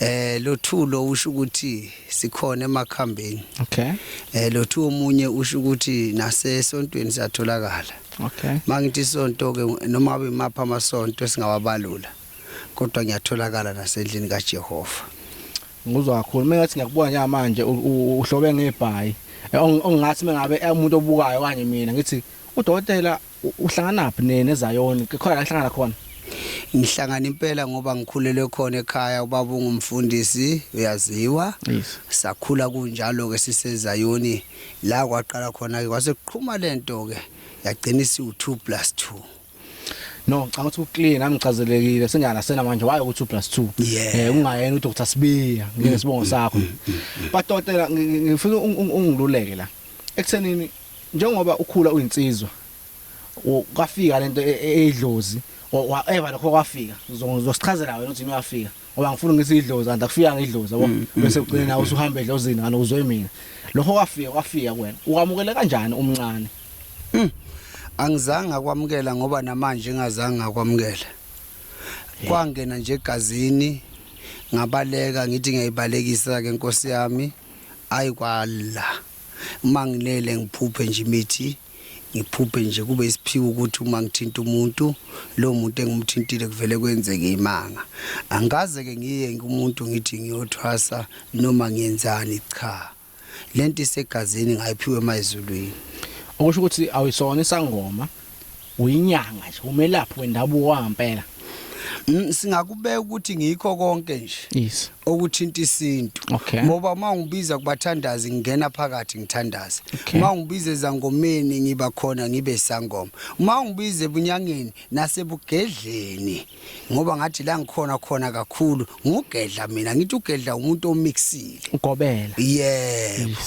Eh lothulo usho ukuthi sikhona emakhambeni. Okay. Eh lothu omunye usho ukuthi nasesontweni siyatholakala. Okay. Mangithi isonto ke noma abe mapha amasonto singawabalula. Kodwa ngiyatholakala nasendlini kaJehova. Ngizwa kakhulu. Mina ngathi ngiyakubona njengamanje uhlobe ngebhayi. Eh, ongathi mengabe eh, umuntu obukayo kanje mina ngithi udokotela Uhlanganaphi neZayoni? Khona ahlangana khona. Ngihlangana impela ngoba ngikhulelwe khona ekhaya ubaba ungumfundisi uyaziwa. Yes. Sakhula kunjalo ke siseZayoni la kwaqala khona ke kwase kuqhuma lento ke yagcina isiwu 2 plus 2. No, ngicabanga ukuthi uclear nami ngichazelekile singana sena manje waye ukuthi 2 plus 2. Yeah. Eh ungayena uDr Sibiya ngesibongo sakho. Badokotela ngifuna ungiluleke la. Ekuthenini Njengoba ukhula uyinsizwa u- kwafika lento e- e- eyidlozi or wa- eva lokho kwafika Ngizo- ngizosichazela wena ukuthi yini wafika ngoba ngifuna ngisi idlozi and akufikanga idlozi yabo Mm, mm, bese ugcine nawe usuhamba edlozini ngani uzwe mina lokho kwafika kwafika kuwena ukwamukele kanjani umncane angizange akwamukela ngoba namanje ngazange ngakwamukela kwangena nje egazini ngabaleka ngithi ngiyayibalekisa ke nkosi yami ayi kwala uma ngilele ngiphuphe nje imithi ngiphuphe nje kube isiphiwo ukuthi uma ngithinta umuntu lo muntu engimthintile kuvele kwenzeke imanga angikaze ke ngiye kumuntu ngithi ngiyothwasa noma ngiyenzani cha lento isegazini ngayiphiwe emayizulwini okusho ukuthi awuyisona isangoma uyinyanga nje umelaphi wendabuko wangampela Mm, singakubeka ukuthi ngikho konke nje yes okuthinta isintu Okay. ngoba uma ngibiza kubathandazi ngingena phakathi ngithandaze Okay. uma ngibiza ezangomeni ngiba khona ngibe sangoma uma ngibiza ebunyangeni nasebugedleni ngoba ngathi la ngikhona khona kakhulu ngugedla mina ngithi ugedla umuntu omixile ugobela yebo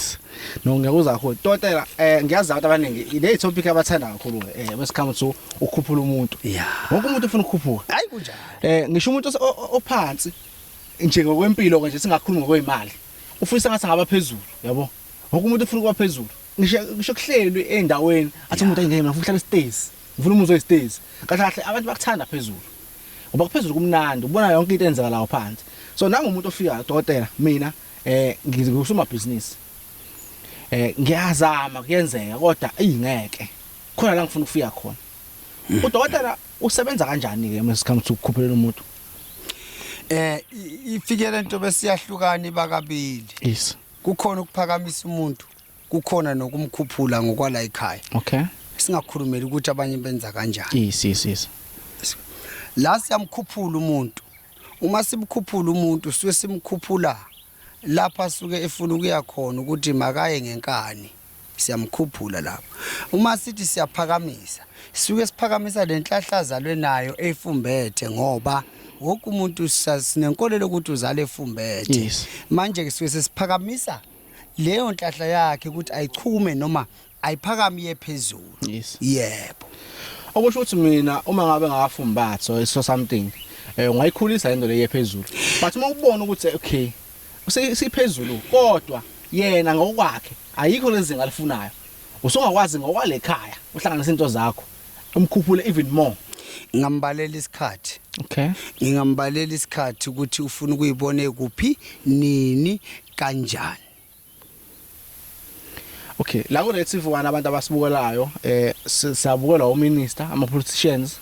no ngiyakuzwa kakhulu totela eh ngiyazi abantu abaningi le topic abathanda kakhulu eh wesikhamu so ukhuphula umuntu wonke umuntu ufuna ukukhuphuka hayi kunjalo eh ngisho umuntu ophansi nje ngokwempilo kanje singakhuluma ngokwemali ufisa ngathi ngaba phezulu yabo wonke umuntu ufuna ukuba phezulu ngisho ngisho kuhlelwe endaweni athi umuntu ayingeke mina ufuna ukuhlala stairs Ngifuna umuzwe isitezi. Kahle kahle abantu bakuthanda phezulu. Ngoba kuphezulu kumnandi, ubona yonke into enzeka lawo phansi. So nami umuntu ofika dokotela mina eh ngikusuma business. Eh ngiyazama kuyenzeka kodwa ingeke. Khona la ngifuna ukufika khona. Hmm. Udokotela usebenza kanjani ke uma sikhamu ukukhuphela umuntu? Eh ifikele into besiyahlukana ibakabili. Yes. Kukhona ukuphakamisa umuntu kukhona nokumkhuphula ngokwala ekhaya okay singakhulumela ukuthi abanye benza kanjani yes yes yes la siyamkhuphula umuntu uma simkhuphula umuntu suke simkhuphula lapha suke efuna ukuya khona ukuthi makaye ngenkani siyamkhuphula lapha uma sithi siyaphakamisa suke siphakamisa lenhlahlaza lwenayo efumbethe ngoba wonke umuntu sinenkolelo ukuthi uzale efumbethe manje ke suke sesiphakamisa leyo nhlahla yakhe ukuthi ayichume noma ayiphakami iye phezulu Yes. yebo okusho ukuthi mina uma ngabe ngafa umbatho so something eh ungayikhulisa into leyo phezulu but uma ubona ukuthi okay usi- siphezulu kodwa yena ngokwakhe ayikho lezinga alifunayo usungakwazi ngokwalekhaya uhlanganisa into zakho umkhuphule even more ngambalela isikhathi okay ngingambalela isikhathi ukuthi ufuna ukuyibona kuphi nini kanjani Okay la ku Red TV1 abantu abasibukelayo eh siyabukela u minister ama politicians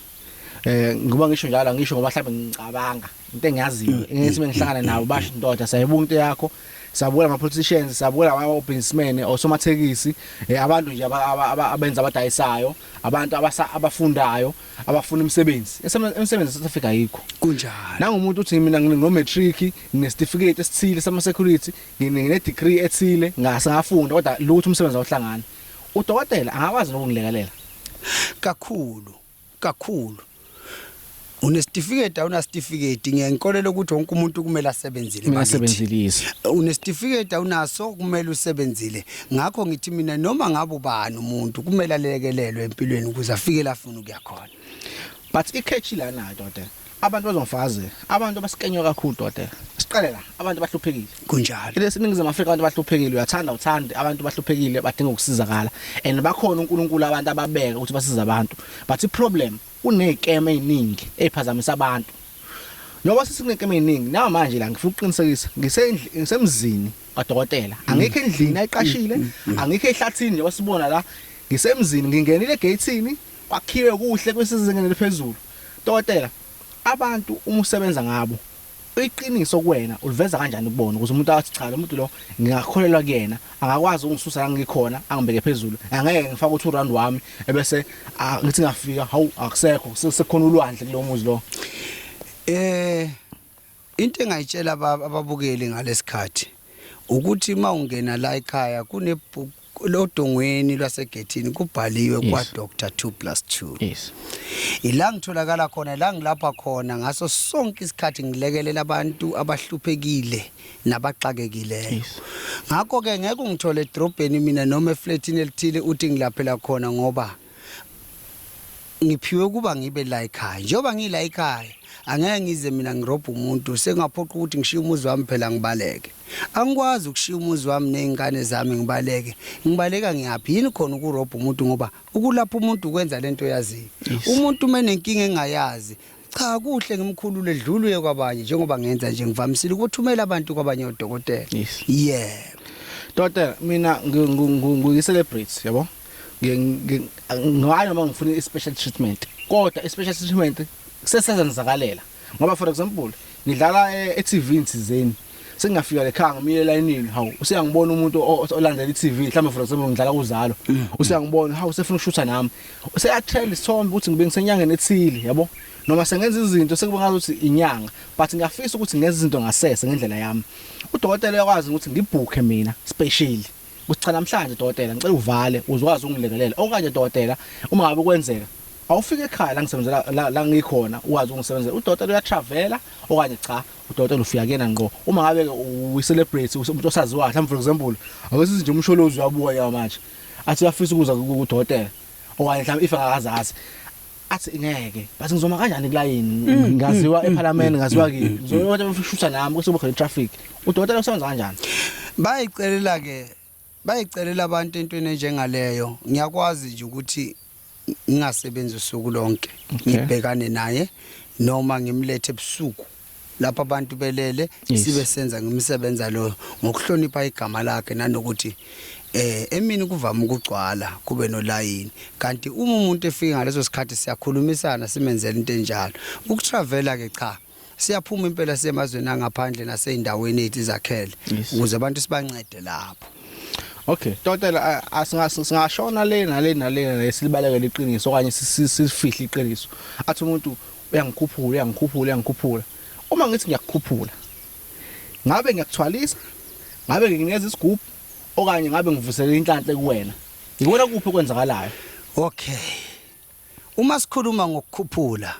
eh ngoba ngisho njalo ngisho ngoba mhlawumbe ngicabanga into engiyaziyo mm. ngithi mengihlangana nabo basho indoda sayibuka into yakho Sabuke lama politicians, sabuke laba businessmen, osomathekisi, eh, abantu nje abenza abadayisayo, abantu abasa abafundayo, abafuna imisebenzi. Imisebenzi South Africa ayikho. Kunjalo. Nangumuntu uthi mina ngino matric, nginesitifiketi esithile sama security, ngine degree ethile, ngase ngafunda kodwa lutho umsebenzi awuhlangani. Udokotela angakwazi nokungilekelela kakhulu. kakhulu unesitifiketi awunasitifiketi ngiye ngikolele ukuthi wonke umuntu kumele asebenzile Mina bakithi. sebenzilise. unesitifiketi awunaso kumele usebenzile ngakho ngithi mina noma ngabe ubani umuntu kumele alekelelwe empilweni ukuze afike la afuna ukuya khona But ikhethi lana doda. Abantu bazongifaze. Abantu abasikenywa kakhulu dokotela. Siqale la, abantu bahluphekile. Kunjalo. Lesi ningizimu Afrika abantu bahluphekile, uyathanda uthande, abantu bahluphekile badinga ukusizakala. And bakhona uNkulunkulu abantu ababeka ukuthi basize abantu. But iproblem kunezikeme eziningi eziphazamisa abantu. Njengoba sesikunekeme eziningi, nawa manje la ngifuna ukuqinisekisa, ngisendli ngisemzini kadokotela. Angikho endlini ayiqashile, angikho ehlathini njengoba sibona la. Ngisemzini, ngingenile egate-ini, Kwakhiwe kuhle kwisezingeni eliphezulu. Dokotela, abantu uma usebenza ngabo, iqiniso kuwena uliveza kanjani kubona ukuze umuntu athi cha lomuntu lo ngingakholelwa kuyena angakwazi ungisusa la ngikhona angibeke phezulu angeke ngifake uthi urand wami ebese ngithi ngafika hawu akusekho sekukhona ulwandle kulomuzi lo eh Into engayitshela ababukeli ngalesikhathi ukuthi uma ungena la ekhaya kune lodongweni lwasegethini kubhaliwe yes. kwa Dr 2 plus 2 yes. ila ngitholakala khona la ngilapha khona ngaso sonke isikhathi ngilekelela abantu abahluphekile nabaxakekileyo yes. ngakho ke ngeke ungithole edrobheni mina noma eflatini elithile uthi ngilaphela khona ngoba ngiphiwe ukuba ngibe la ekhaya njengoba ngila ekhaya angeke ngize mina ngirobha umuntu sengaphoqa ukuthi ngishiye umuzi wami phela ngibaleke angikwazi ukushiya umuzi wami nezingane zami ngibaleke ngibaleka ngiyaphi yini khona ukurobha umuntu ngoba ukulapha umuntu ukwenza lento yaziyo umuntu menenkinga engayazi cha kuhle ngimkhulule dlulu ye kwabanye njengoba ngenza nje ngivamisile ukuthumela abantu kwabanye odokotela Yes. yeah Doctor mina ngi- ngi- ngi- ngiyi-celebrity yabo. Ngi- ngi- Ngayo noma ngifuna i-special treatment. Kodwa i-special treatment sesenzenzakalela. Ngoba for example ngidlala e-TV insizeni sengingafika lekhaya ngimile elayinini hawu useyangibona umuntu olandela iTV mhlawumbe for example ngidlala kuzalo mm. useyangibona hawu sefuna ukushutha nami useyatrend isithombe ukuthi ngibe ngisenyangeni ethile yabo noma sengenza izinto sekuba ngathi inyanga but ngiyafisa ukuthi ngenze izinto ngasese ngendlela yami udokotela uyakwazi ukuthi ngibhukhe mina special ukuthi cha namhlanje dokotela ngicela uvale uzokwazi ukungilekelela okanye dokotela uma ngabe kwenzeka awufike ekhaya la ngisebenzela la ngikhona ukwazi ukungisebenzela udokotela uyatravela okanye cha Udokotela ufika kuyena ngqo uma ngabe uyi-celebrate umuntu osaziwayo mhlawumbe for example awesithi nje umsholozi uyabuka yawo manje athi uyafisa ukuza kudokotela okanye mhlawumbe if akazazi athi ngeke bathi ngizoma kanjani kulayini mm, ngaziwa mm, mm, ephalamende ngaziwa kini ngizokwathi bashutha nami kusuke khona i-traffic udokotela usebenza kanjani bayicelela ke Bayicelela abantu entweni enjengaleyo. Ngiyakwazi nje ukuthi ngingasebenzi usuku lonke. Ngibhekane naye noma ngimlethe ebusuku lapha abantu belele Yes. sibe senza ngimsebenza lo ngokuhlonipha igama lakhe nanokuthi eh emini kuvama ukugcwala kube nolayini kanti uma umuntu efika ngaleso sikhathi siyakhulumisana simenzela into enjalo ukutravela ke cha siyaphuma impela semazweni angaphandle naseyindaweni ethi zakhele ukuze abantu sibancede lapho Okay totela asingashona le nale nale silibalekele iqiniso okanye sifihle iqiniso athi umuntu uyangikhuphula uyangikhuphula uyangikhuphula uma ngithi ngiyakukhuphula ngabe ngiyakuthwalisa ngabe nginikeza isigubhu okanye ngabe ngivusela inhlanhle kuwena ngikona kuphi okwenzakalayo okay uma sikhuluma ngokukhuphula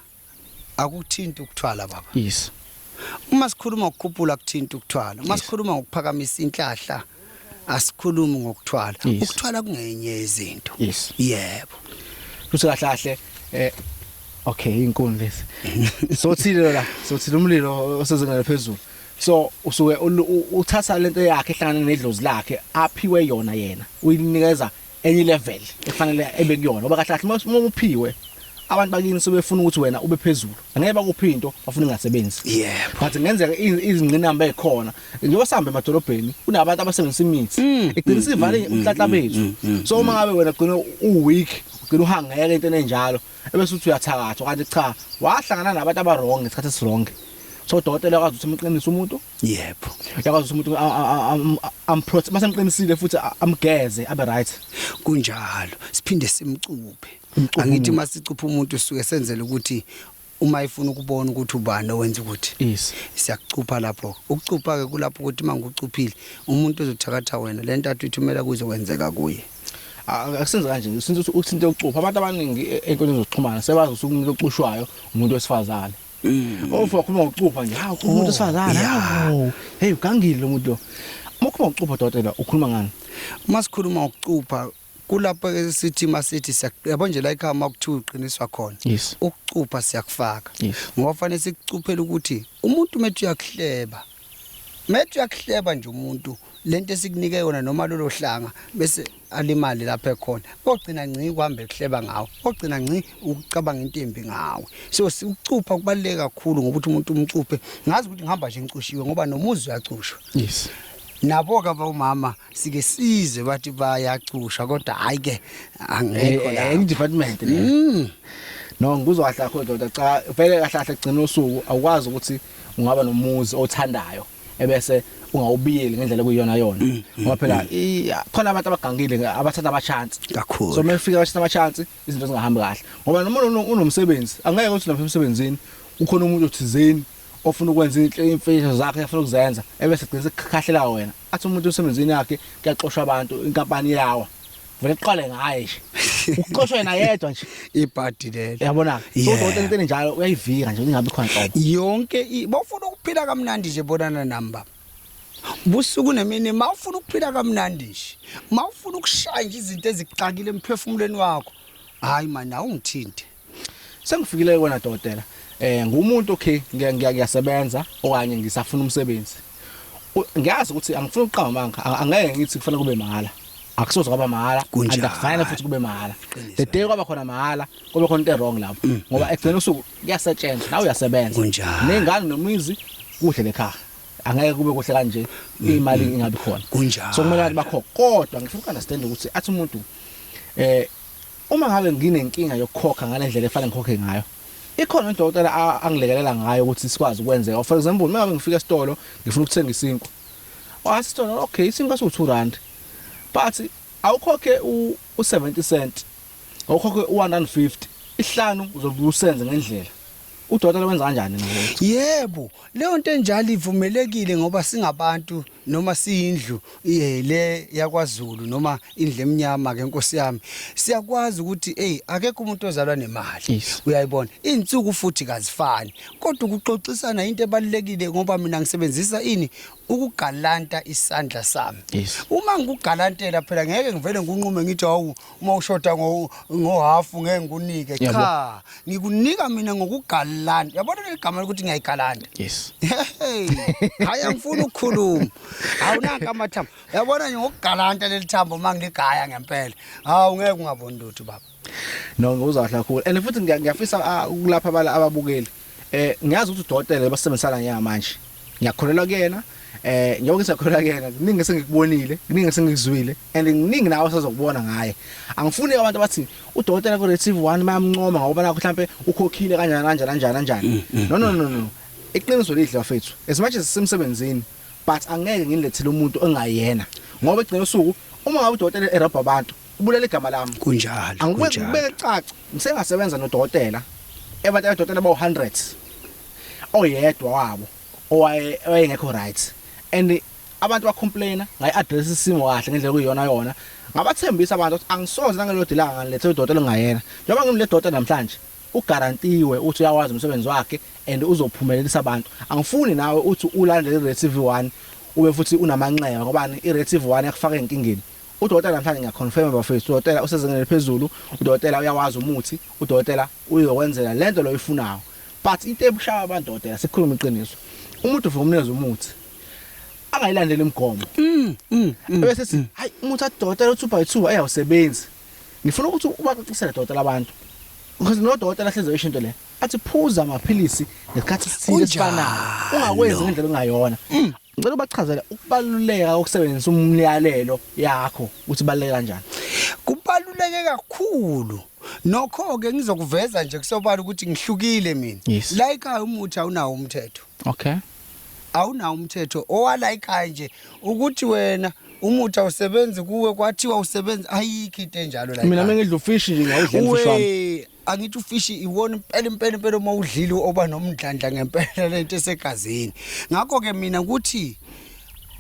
akuthinti ukuthwala baba yes uma sikhuluma ngokukhuphula kuthinta ukuthwala uma sikhuluma ngokuphakamisa inhlahla asikhulumi ngokuthwala ukuthwala kungenye yezinto yebo futhi kahle kahle eh okay inkuni lesi so thile la so thile umlilo osezingana phezulu so usuke uthatha lento yakhe ehlangana nedlozi lakhe aphiwe yona yena uyinikeza enye level efanele ebe kuyona oba kahle kahle uma uphiwe abantu bakini sebefuna ukuthi wena ube phezulu angeke bakuphi into bafuna ingasebenzi yeah but ngenzeka izingqinamba ezikhona njengoba sihambe emadolobheni kunabantu abasebenzisa imithi mm. iqinisa ivale mm, mm, umhlatla bethu so uma ngabe wena gcina uweak ugcina uhangeke into enjalo ebese uthi uyathakathwa kanti cha wahlangana nabantu abarong ngesikhathi esironge so udokotela uyakwazi ukuthi umqinise umuntu yebo uyakwazi ukuthi umuntu a- a- a- am- amprot mase mqinisile futhi a- amgeze abe right kunjalo siphinde simcuphe Umcuphe angithi umuntu. uma sicupha umuntu suke senzele ukuthi uma ifuna ukubona ukuthi ubani owenza ukuthi yes siyakucupha lapho ukucupha-ke kulapho ukuthi uma ngikucuphile umuntu ozothakatha wena le ntathu ithumela kuzokwenzeka kuye akusenze kanje since uthinte ucupha abantu abaningi e- ey'nkundleni zokuxhumana sebazi ukuthi umuntu ocushwayo umuntu wesifazane Mm. ofa ukhuluma ngokucupha nje hawu ukhuluma umuntu wesifazane yeah. hawu heyi ugangile lo muntu lo uma ukhuluma ngokucupha dokotela ukhuluma ngani uma sikhuluma ngokucupha kulapho ke sithi masithi siyak- yabo nje la ikhaya uma kuthiwa uqiniswa khona yes ukucupha siyakufaka yes ngoba fanele sikucuphele ukuthi umuntu umethi uyakuhleba Methi uyakuhleba nje umuntu lento esikunike yona noma lolo hlanga bese alimali lapha ekhona ogcina ngci kuhamba ekuhleba ngawo ogcina ngci ukucabanga into embi ngawe so ukucupha kubaluleke kakhulu ngokuthi umuntu umcuphe ngazi ukuthi ngihamba nje ngicushiwe ngoba nomuzi uyacushwa yes nabo ke abomama sike size bathi bayacusha kodwa hayi ke angekho eh, la eh, department mm. no ngikuzwa kahle akho ndoda cha vele kahle kahle kugcina usuku awukwazi ukuthi ungaba nomuzi othandayo ebese ungawubiyeli ngendlela kuyona yona mm, mm, ngoba phela mm. khona abantu abagangile abathatha ama chance kakhulu so mefika bathatha ama chance izinto zingahambi kahle ngoba noma unomsebenzi angeke uthi lapha emsebenzini ukhona umuntu othizeni ofuna ukwenza imfihlo zakhe afuna ukuzenza ebese gcina sekukhahlela wena athi umuntu emsebenzini yakhe kuyaxoshwa abantu inkampani yawa vele kuqale ngaye nje uxoshwe yena yedwa nje ibhadi lelo yabona so kodwa into enjalo uyayivika nje ingabe khona qobo yonke bofuna ukuphila kamnandi nje bonana namba busuku nemini mawufuna ukuphila kamnandi nje mawufuna ukushaya nje izinto ezikuxakile emphefumulweni wakho hayi manje awungithinte Sengifikile kuwena dokotela. Eh ngumuntu okay ngiyasebenza okanye ngisafuna umsebenzi. Ngiyazi ukuthi angifuni uqamba amanga angeke ngithi kufanele kube mahala. Akusoze kwaba mahala andakufana futhi kube mahala. The day kwaba khona mahala kube khona into wrong lapho mm, ngoba mm. ekugcina usuku kuyasetshenzwa nawe uyasebenza. Nengane nomizi kuhle lekhaya. angeke kube kuhle kanje mm, imali ingabi khona so kumele bakho kodwa ngifuna ukunderstand ukuthi athi umuntu eh Uma ngabe nginenkinga yokukhokha ngale ndlela efanele ngikhokhe ngayo, ikhona udokotela angilekelela ngayo ukuthi sikwazi ukwenzeka. Or for example, uma ngabe ngifika esitolo ngifuna ukuthenga isinkwa. Wathi isitolo, okay, isinkwa siwu-2 rand. But awukhokhe u-70 cent, awukhokhe u-150. Isihlanu uzobe usenze ngendlela. Udokotela wenza kanjani manje? Yebo, leyo nto enjalo ivumelekile ngoba singabantu noma siyindlu eh, le yakwaZulu noma indlu emnyama ke Nkosi yami. Siyakwazi ukuthi hey akekho umuntu ozalwa nemali. Yes. Uyayibona? Izinsuku futhi kazifani. Kodwa ukuxoxisana into ebalekile ngoba mina ngisebenzisa ini ukugalanta isandla sami. Yes. Uma ngikugalantela phela ngeke ngivele ngunqume ngithi awu uma ushoda ngohafu ngo ngeke ngikunike cha ngikunika mina ngokugalanda yabona leli gama lokuthi ngiyayigalanda yes hayi angifuni ukukhuluma awunaka amathambo yabona nje ngokugalanda leli thambo uma ngiligaya ngempela hawu ngeke ungaboni lutho baba no uzahla khulu and futhi ngiyafisa ah, ukulapha abala ababukeli Eh ngiyazi ukuthi udokotela ebasebenzisana ngiya manje. Ngiyakholelwa kuyena. Eh njengoba ngisakholelwa kuyena, kuningi esengikubonile, kuningi esengikuzwile and kuningi nawe osazokubona ngaye. Angifuni abantu abathi udokotela ku Retrieve 1 bayamncoma ngoba nakho mhlambe ukhokhile kanjani kanjani kanjani kanjani. Mm, mm, No no mm. no no. Iqiniso lidla fethu. As much as sisemsebenzini but angeke ngilethele umuntu ongayena. Ngoba egcina usuku uma ngabe udokotela erobha abantu ubulala igama lami kunjalo angikubeke kunjalo kubeke caca ngisengasebenza nodokotela ebantu abadokotela bawu hundreds oyedwa wabo owaye owayengekho right and abantu bacomplaina ngayi address isimo kahle ngendlela kuyiyona yona ngabathembisa abantu ukuthi angisoze nangelodilanga ngilethe udokotela ongayena njengoba ngimle dokotela namhlanje ugarantiwe uthi uyawazi umsebenzi wakhe and uzophumelelisa abantu angifuni nawe uthi ulandele i-retive 1 ube futhi unamanxeba ngobani i-retive 1 yakufaka enkingeni Udokotela namhlanje ngiya confirm bafethu udokotela usezingeni eliphezulu udokotela uyawazi umuthi udokotela uyokwenzela lento loyifunayo but into ebushaya abantu dokotela sikhuluma iqiniso umuntu ufika umnikeza umuthi angayilandeli imigomo mm, mm, mm, bese sithi hayi umuthi adokotela uthi by 2 ayawusebenzi ngifuna ukuthi ubacacisele dokotela abantu because no dokotela hleze isho into le athi phuza amaphilisi ngesikhathi sithile sifanayo ungakwenzi ngendlela ongayona Ngicela ubachazele ukubaluleka kokusebenzisa umyalelo yakho ukuthi baluleke kanjani. Kubaluleke kakhulu. Nokho ke ngizokuveza nje kusobala ukuthi ngihlukile mina. Yes. La ekhaya umuthi awunawo umthetho. Okay. Awunawo umthetho owala ekhaya nje ukuthi wena umuthi awusebenzi kuwe kwathiwa usebenza ayikho into enjalo la. Mina ekhaya. mengidla ufishi nje ngawudlela ufishi wami. We, angithi ufishi iwona impela impela impela uma udlile oba nomdlandla ngempela lento esegazini ngakho ke mina ukuthi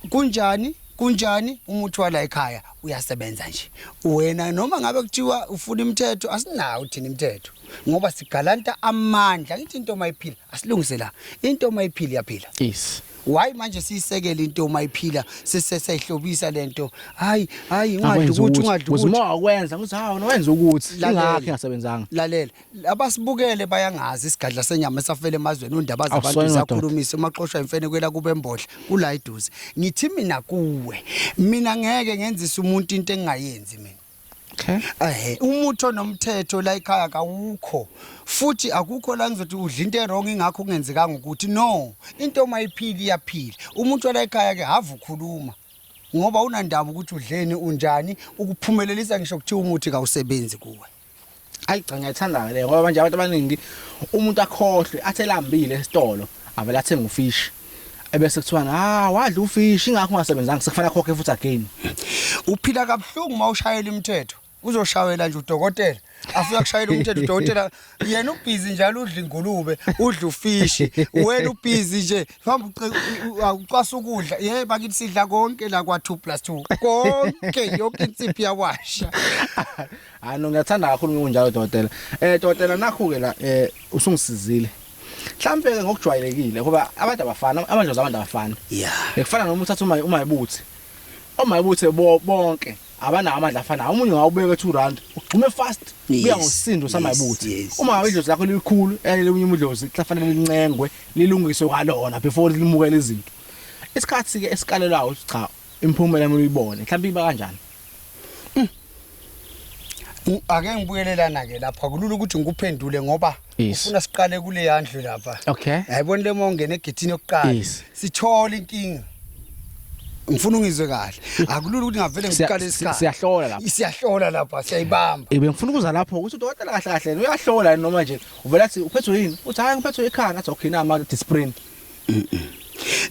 kunjani kunjani umuthi wala ekhaya uyasebenza nje wena noma ngabe kuthiwa ufuna imithetho asinawo thina imithetho ngoba sigalanta amandla ngithi into mayiphila asilungise la into mayiphila iyaphila yes Why manje siyisekela into uma iphila sisesehlobisa lento. Hayi, hayi ingadli ukuthi ungadli ukuthi. Uzima ukwenza ukuthi hawo nowenza ukuthi ingakhe ngasebenzanga. Lalela. Abasibukele bayangazi isigadla senyama esafela emazweni ondaba zabantu zakhulumisa umaxoshwa imfene kwela kube embodla kula iduze. Ngithi mina kuwe. Mina ngeke ngenzisa umuntu into engingayenzi mina. Okay. Ehhe umuthi onomthetho la ekhaya kawukho futhi akukho la ngizothi udla into erong ingakho kungenzekanga ukuthi no into uma iphila iyaphila umuntu wala ekhaya ke hava ukhuluma ngoba unandaba ukuthi udleni unjani ukuphumelelisa ngisho kuthiwa umuthi kawusebenzi kuwe ayi cha ngiyayithanda le ngoba manje abantu abaningi umuntu akhohlwe athelambile esitolo avela athenga ufish ebese kuthiwa ha wadla ufish ingakho ungasebenzanga sekufanele akhokhe futhi again uphila kabuhlungu uma ushayela imithetho uzoshawela nje udokotela afika kushayela umthetho udokotela yena ubhizi njalo udla ingulube udla ufishi wena ubhizi nje hamba ucwasa ukudla ye bakithi sidla konke la kwa 2 plus 2 konke yonke insiphi yawasha Hayi no ngiyathanda kakhulu ngikunjalo dokotela. Eh dokotela nakho-ke la eh usungisizile. Mhlampe ke ngokujwayelekile ngoba abantu abafana amadlozi abantu abafana. Yeah. Ekufana noma uthatha uma umayibuthi. Omayibuthi bo- bonke abanawo amandla afana. Umunye ngawubeka 2 rand ugxume fast Yes, kuya ngosindo yes, samayibuthi. yes, Uma ngabe idlozi lakho lilikhulu elinye unye umdlozi kufanele lincengwe lilungiswe kwalona before limukele izinto. Isikhathi ke esikalelayo cha imphumela yami uyibone. Mhlampe iba kanjani? Mm. Ake ngibuyelelana ke lapha kulula ukuthi ngikuphendule ngoba ufuna siqale kule yandlu lapha. Okay. Yayibona le mongena egethini yokuqala. Sithola inkinga. ngifuna ungizwe kahle akulula ukuthi ngavele ngiqale isikhathi siyahlola lapha siyahlola lapha siyayibamba ibe ngifuna ukuza lapho ukuthi udokotela kahle kahle uyahlola noma nje uvela athi uphethwe yini uthi hayi ngiphethwe ikhanda athi okay na ama discipline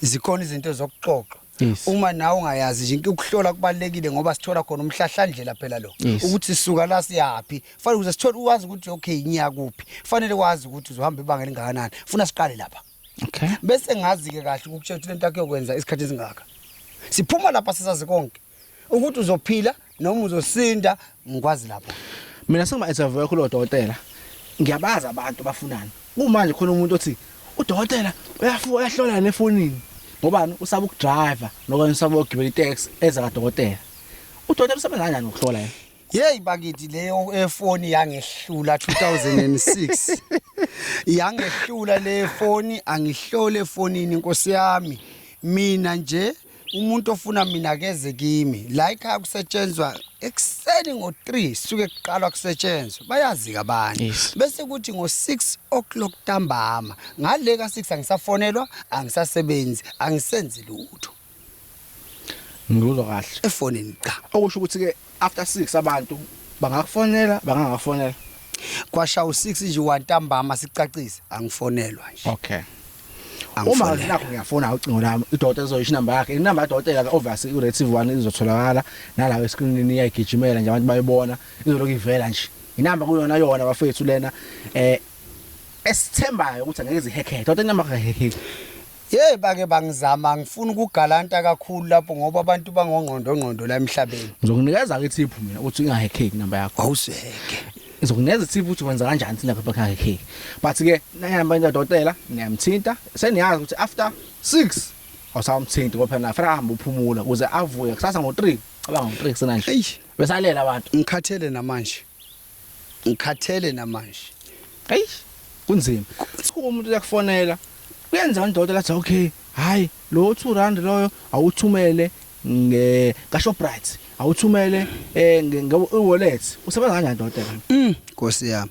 zikhona izinto zokuxoxa Yes. Uma nawe ungayazi nje inkinga ukuhlola kubalekile ngoba sithola khona umhlahlandlela phela lo. Yes. Ukuthi sisuka la siyaphi. Fanele ukuze sithole uwazi ukuthi okay ngiya kuphi. Fanele wazi ukuthi uzohamba ibanga elingakanani. Funa siqale lapha. Okay. Bese ngazi ke kahle ukutshela ukuthi lento akuyokwenza isikhathi esingaka. Siphuma lapha sisazi konke. Ukuthi uzophila noma uzosinda ngikwazi lapho mina sengima interview yakho lodokotela ngiyabaza abantu bafunani kumanje khona umuntu othi udokotela uyafuka uyahlola nefonini ngobani usaba ukudriver nokanye usaba ukugibela itaxi eza kadokotela udokotela usebenza kanjani ukuhlola yena Hey bakithi leyo efoni yangehlula 2006 yangehlula le foni angihlole efonini inkosi yami mina nje umuntu ofuna mina akeze kimi la ikhaya kusetshenzwa ekuseni ngo-3 suke kuqalwa kusetshenzwa bayazi-ke abanye Yes. bese kuthi ngo-6 o'clock ntambama ngale ka-6 angisafonelwa angisasebenzi angisenzi lutho ngikuzwa kahle efonini cha okusho ukuthi-ke After 6 abantu bangakufonela bangangakufonela. Kwasha u6 nje wantambama sicacise angifonelwa nje. Okay. Uma nakho ngiyafona ucingo lami idota ezoyisho inamba yakhe inamba yadotela ke obviously u Red TV 1 izotholakala nala we screen iyayigijimela nje abantu bayibona izoloku ivela nje inamba kuyona yona bafethu lena eh esithembayo ukuthi angeke zihekhethe kodwa inamba kaheheki Yey bake bangizama ngifuna ukugalanta kakhulu lapho ngoba abantu bangongqondo ngqondo la emhlabeni. Ngizokunikeza ke ithiphu mina uthi ingahe cake number yakho. Awuseke. Ngizokunikeza ithiphu ukuthi wenza kanjani thina lapha ekhaya cake. But ke nayihamba into dokotela niyamthinta seniyazi ukuthi after 6 awusamthinti ngoba phela nafanele ahambe uphumula ukuze avuke kusasa ngo 3 cabanga ngo 3 kusena nje. Eish. Besalela abantu. Ngikhathele namanje. ngikhathele namanje hey kunzima kuthiwa umuntu uyakufonela kuyenza ndoda lathi okay hayi lo 2 rand loyo awuthumele nge kaShoprite awuthumele eh nge wallet usebenza kanjani doda mm Nkosi yami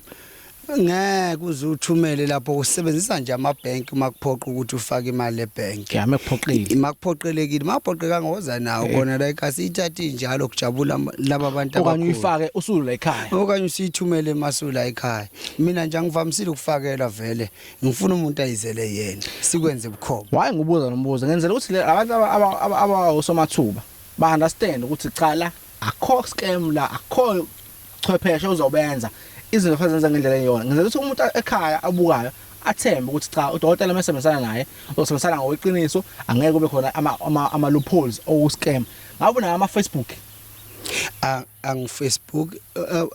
ngeke uze uthumele lapho usebenzisa nje ama bank uma kuphoqa ukuthi ufake imali e bank Yeah, mekuphoqile. Makuphoqelekile, makuphoqekanga woza nawo Eh. kona la ekhaya siyithathe injalo kujabula ama- laba bantu Okanye abakhulu. uyifake usulu la ekhaya. okanye usiyithumele emasula ekhaya mina nje angivamisile ukufakela vele ngifuna umuntu ayizele yena sikwenze bukhoma Waye ngibuza nombuzo ngenzela ukuthi le- abantu aba- aba- aba- abawosomathuba ba understand ukuthi cha la akho scam la akho chwepheshe uzobenza izinto fanele zenze ngendlela eyona ngenzela ukuthi umuntu ekhaya abukayo athembe ukuthi cha udokotela uma esebenzisana naye uzosebenzisana ngokweqiniso angeke kube khona ama-loopholes oku-scam ngabe unayo ama-facebook angifacebook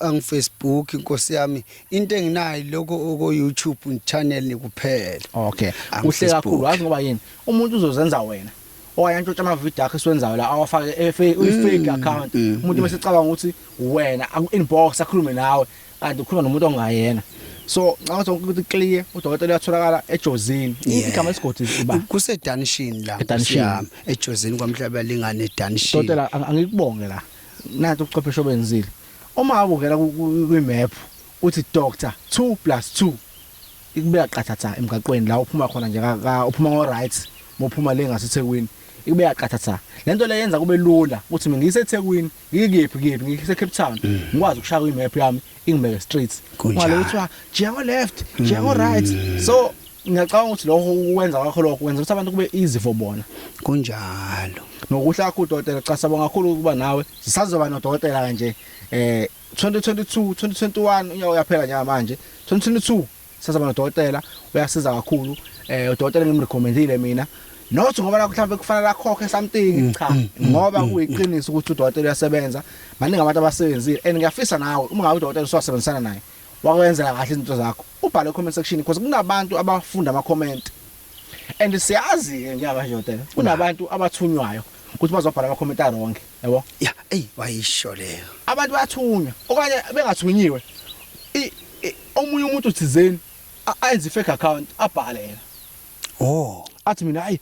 angifacebook inkosi yami into enginayo lokho oko YouTube channel nikuphela okay kuhle kakhulu wazi ngoba yini umuntu uzozenza wena owaye antshontsha ama video akhe esiwenzayo la awafake e-, mm, i-fake account mm, umuntu mm. bese cabanga ukuthi wena aku inbox akhulume nawe kanti ukhuluma nomuntu ongayena so ngicabanga ukuthi ukuthi clear udokotela uyatholakala ejozini Yeah. igama lesigodi uba kusedanishini la Edanishini. Nkosi yami, ejozini kwamhlaba lingane edanishini Dotela ang- angikubonge la. Nanti ubuchwepheshe obenzile. Uma ubukela ku- ku- kwi-map uthi doctor 2 plus 2 ikubeka qathatha emgaqweni la uphuma khona nje ka- ka- uphuma ngo right mophuma le ngaseThekwini ikubeka qathatha. Lento le yenza kube lula ukuthi mina ngiseThekwini ngikephi kephi ngikuse Cape Town mm. ngikwazi ukushaya imap yami ingibeke straight ngale kuthiwa jeko left mm. jeko right so ngiyacabanga ukuthi lokho ukwenza kwakho lokho kwenza ukuthi abantu kube easy for bona kunjalo nokuhla kakhulu dokotela cha sabonga kakhulu ukuba nawe sisazoba nodokotela kanje eh 2022 2021 unyaka uyaphela njengamanje 2022 sesaba nodokotela uyasiza kakhulu eh udokotela ngimrecommendile mina not ngoba la mhlawumbe kufanele akhokhe something mm, cha mm, mm, ngoba kuyiqiniso ukuthi udokotela uyasebenza maningi abantu abasebenzile and ngiyafisa nawe uma ngabe udokotela usasebenzisana naye wakwenzela kahle izinto zakho ubhale comment section because kunabantu abafunda ama comment and siyazi ke ngiyaba nje udokotela kunabantu abathunywayo ukuthi bazobhala ama comment aronke Yabo? Ya, eyi wayisho leyo. Abantu bathunywa okanye bengathunyiwe. I, i omunye umuntu thizeni ayenze fake account abhale yena. Oh, athi mina hayi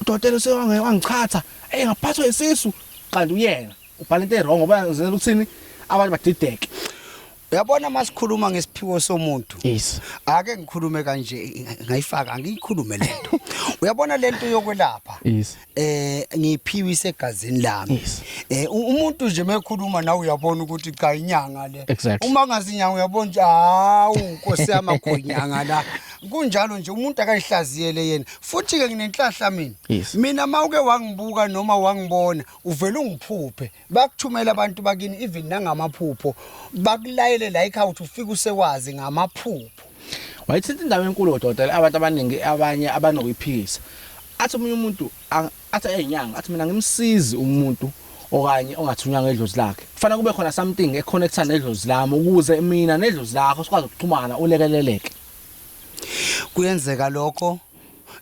udokotela usewange wangichatha. Hey ngaphathwa isisu kanti uyena. Ubhala into e wrong ngoba uzenza ukuthini abantu badideke. Uyabona masikhuluma ngesiphiwo somuntu. Yes. Ake ngikhulume kanje ngayifaka angiyikhulume lento. Uyabona lento yokwelapha. Yes. Eh ngiphiwe isegazini lami. Yes. Eh umuntu nje mekhuluma nawe uyabona ukuthi cha inyanga le. Exactly. Uma ngazinyanga uyabona nje hawu Nkosi yami akhoyinyanga la. kunjalo nje umuntu akayihlaziyele yena futhi ke nginenhlahla mina yes. mina mawuke wangibuka noma wangibona uvela ungiphuphe bakuthumela abantu bakini even nangamaphupho bakulayele la ekhaya ukuthi ufike usewazi ngamaphupho wayithinta indawo enkulu odokotela abantu abaningi abanye abanokuyiphikisa athi omunye umuntu athi ayinyanga athi mina ngimsizi umuntu okanye ongathunywanga edlozi lakhe kufanele kube khona something econnecta nedlozi lami ukuze mina nedlozi lakho sikwazi ukuxhumana ulekeleleke kuyenzeka lokho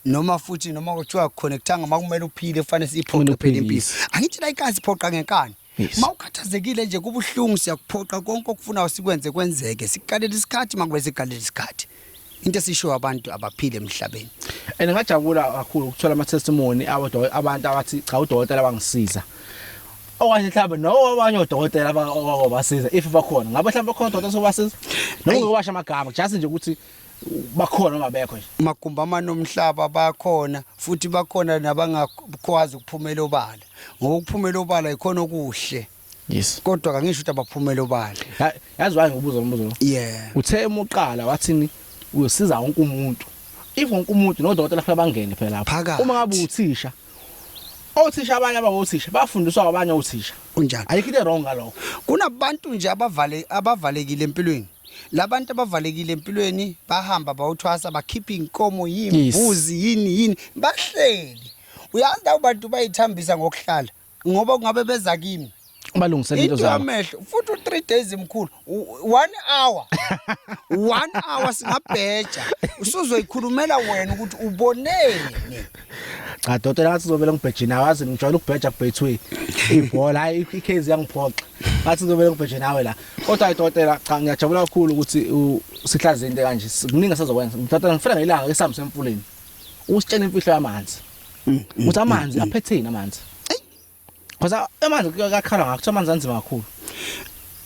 noma futhi noma kuthiwa connectanga makumele uphile kufanele siyiphoqe phela impilo angithi la ikazi phoqa ngenkani mawukhathazekile nje kubuhlungu siyakuphoqa konke okufunayo sikwenze kwenzeke sikuqalela isikhathi makube sikuqalela isikhathi into esishiwo abantu abaphile emhlabeni and ngajabula kakhulu ukuthola ama testimony abantu abathi cha udokotela bangisiza okanye mhlawumbe nowabanye odokotela abakobasiza if bakhona ngabe mhlawumbe khona odokotela sobasiza noma ngobasha amagama just nje ukuthi bakhona ongabekho nje magumba amane omhlaba bakhona futhi bakhona nabangakwazi ukuphumela obala ngoba ukuphumela obala ikhona okuhle yes kodwa kangisho ukuthi abaphumela obala yazi waye ngobuzo umbuzo yeah uthe emuqala wathini uyosiza wonke umuntu if wonke umuntu nodokotela kufanele bangene phela lapha uma ngabe uthisha Othisha abanye abangothisha bafundiswa abanye othisha. Kunjalo. Ayikho into wrong ngalokho. Kunabantu nje abavale abavalekile empilweni. Labantu abavalekile empilweni bahamba bawuthwasa bakhipha inkomo yimbuzi yini yini bahleli. Uyazi lawo bantu bayithambisa ngokuhlala ngoba kungabe beza kimi. balungisele into zabo amehlo futhi u3 days mkhulu 1 hour 1 hour singabheja usuzoyikhulumela wena ukuthi uboneni cha dotela ngathi uzovela ngibhejini awazi ngijwayele ukubheja kubhethwe ibhola hayi ikezi yangiphoxa ngathi uzovela ngibhejini nawe la kodwa dotela cha ngiyajabula kakhulu ukuthi sihlaze into kanje kuningi asazokwenza ngithatha ngifela ngelanga kesamu semfuleni usitshela imfihlo yamanzi mm, mm, ukuthi amanzi mm, aphetheni amanzi Khoza amanzi kakhala ngakho kuthiwa amanzi anzima kakhulu.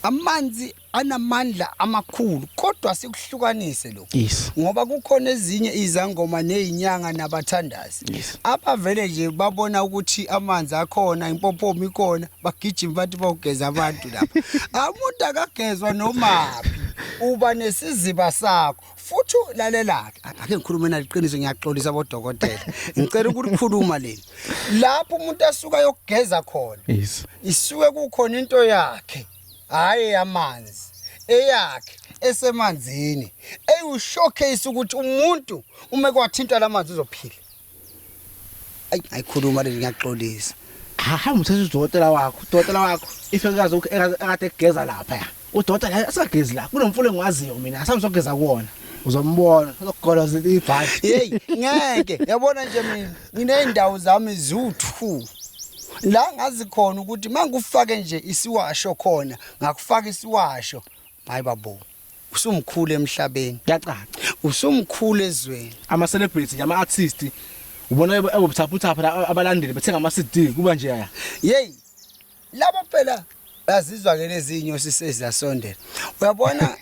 Amanzi anamandla amakhulu kodwa sikuhlukanise lokho. Yes. Ngoba kukhona ezinye izangoma nezinyanga nabathandazi Yes. abavele nje babona ukuthi amanzi akhona impophomi ikhona bagijima bathi bawugeza abantu lapha. Umuntu akagezwa nomaphi uba nesiziba sakho. futhi lalelake ake ngikhulume naliqiniso ngiyaxolisa bodokotela ngicela ukulikhuluma leli lapho umuntu asuka yokugeza khona isuke kukhona into yakhe hayi yamanzi eyakhe esemanzini eyu showcase ukuthi umuntu uma kwathinta lamanzi uzophila ayi ayikhuluma leli ngiyaxolisa hamba uthatha udokotela wakho udokotela wakho ife kaze ekade kugeza lapha ya udokotela la asagezi la kunomfula engiwaziyo mina asambe sogeza kuwona uzombona uzokugoloza ibhathi hey ngeke yabona nje mina ngineyindawo zami ziwu2 la ngazi khona ukuthi mangikufake nje isiwasho khona ngakufaka isiwasho hayi babo usumkhulu emhlabeni kuyacaca usumkhulu ezweni ama celebrity nje ama artist ubona ebobuthaphuthapha la abalandeli bethenga ama CD kuba nje ya hey labo phela bazizwa ke lezinyo sisezasondela uyabona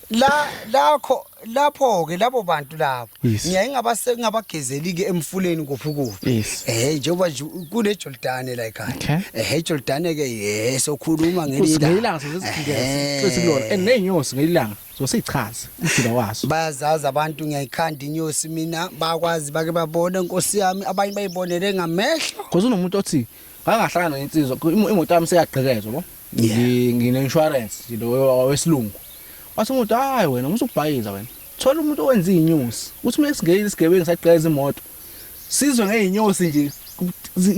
la lakho lapho ke labo bantu labo Yes. ngiyaye ngabase ngabagezeli ke emfuleni kuphi kuphi Yes. eh njengoba nje kune Jordan la ekhaya Okay. eh Jordan ke eh sokhuluma ngelinda usingeyilanga sezizigeza xithi kulona and nezinyosi ngeyilanga zosichaza umjula waso bayazazi abantu ngiyayikhanda inyosi mina bakwazi bake babone nkosi yami abanye bayibonele ngamehlo because unomuntu othi ngangahlangana nensizwa ku- imo- imoto yami seyagqekezwa bo Yeah. Ngi- ngine-insurance nje lo wesilungu wathi umuntu hayi wena musubhayiza wena Thola umuntu owenza izinyosi. Uthi uma singeyile isigebengu sagqeza imoto. Sizwe ngezinyosi nje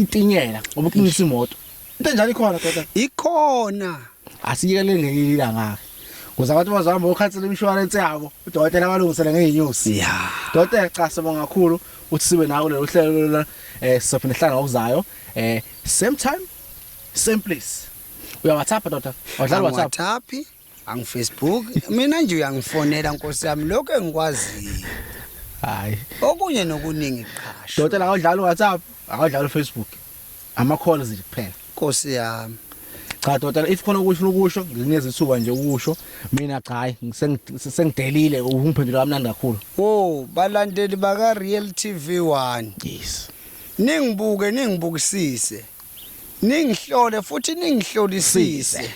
itinyela ngoba kuqinisa imoto. Into enjalo ikhona kodwa. Ikhona. Asiyekele ngelinye ilanga. Kuze abantu bazohamba okhansela imshwarense yabo. Udokotela abalungisele ngezinyosi. Ya. Dokotela cha sibonga kakhulu uthi sibe nawo lelo hlelo la eh sizophinde hlanga okuzayo eh same time same place. Uya WhatsApp dota. Wadlala WhatsApp. WhatsApp. angifacebook mina nje uyangifonela nkosi yami lokho engikwaziyo hayi okunye nokuningi qhasho dota la awudlala uwhatsapp awudlala ufacebook ama calls nje kuphela nkosi yami cha dota if khona ukuthi ukusho nginikeza ithuba nje ukusho mina cha hayi sengidelile ungiphendula kamnandi kakhulu oh balandeli baka real tv 1 yes ningibuke ningibukisise ningihlole futhi ningihlolisise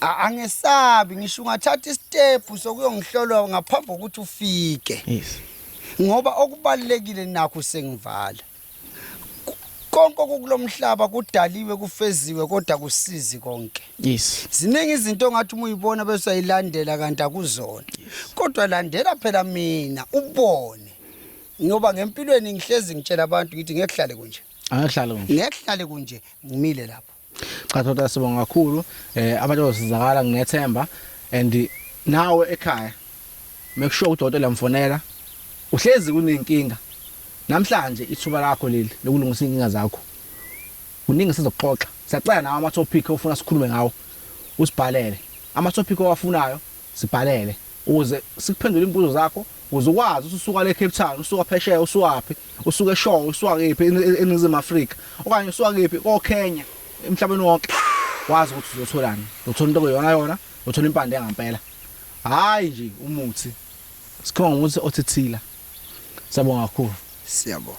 angesabi ngisho ungathatha isitepu sokuyongihlola ngaphambi kokuthi ufike yes ngoba okubalekile nakho sengivala konke okulomhlaba kudaliwe kufeziwe kodwa kusizi konke yes ziningi izinto ongathi uma uyibona bese uyilandela kanti akuzona kodwa landela phela mina ubone ngoba ngempilweni ngihlezi ngitshela abantu ngithi ngekuhlale kunje angihlale kunje ngekuhlale kunje ngimile lapho Cha Thota sibonga kakhulu eh abantu bazosizakala nginethemba and nawe ekhaya make sure udokotela uyamfonela uhlezi kunenkinga namhlanje ithuba lakho leli lokulungisa inkinga zakho kuningi sizoxoxa siyacela nawe ama topic ofuna sikhulume ngawo usibhalele ama topic owafunayo Sibhalele ukuze sikuphendule imibuzo zakho ukuze ukwazi ukuthi usuka le Cape Town, usuka phesheya, usuwaphi, usuka eShowe, usuka kephi eNingizimu Afrika okanye usuka kephi koKenya emhlabeni wonke wazi ukuthi uzotholani. Uzothola into okuyona yona, uzothola impande ngampela. Hayi nje umuthi. Sikhonga umuthi othithila. Siyabonga kakhulu. Siyabonga.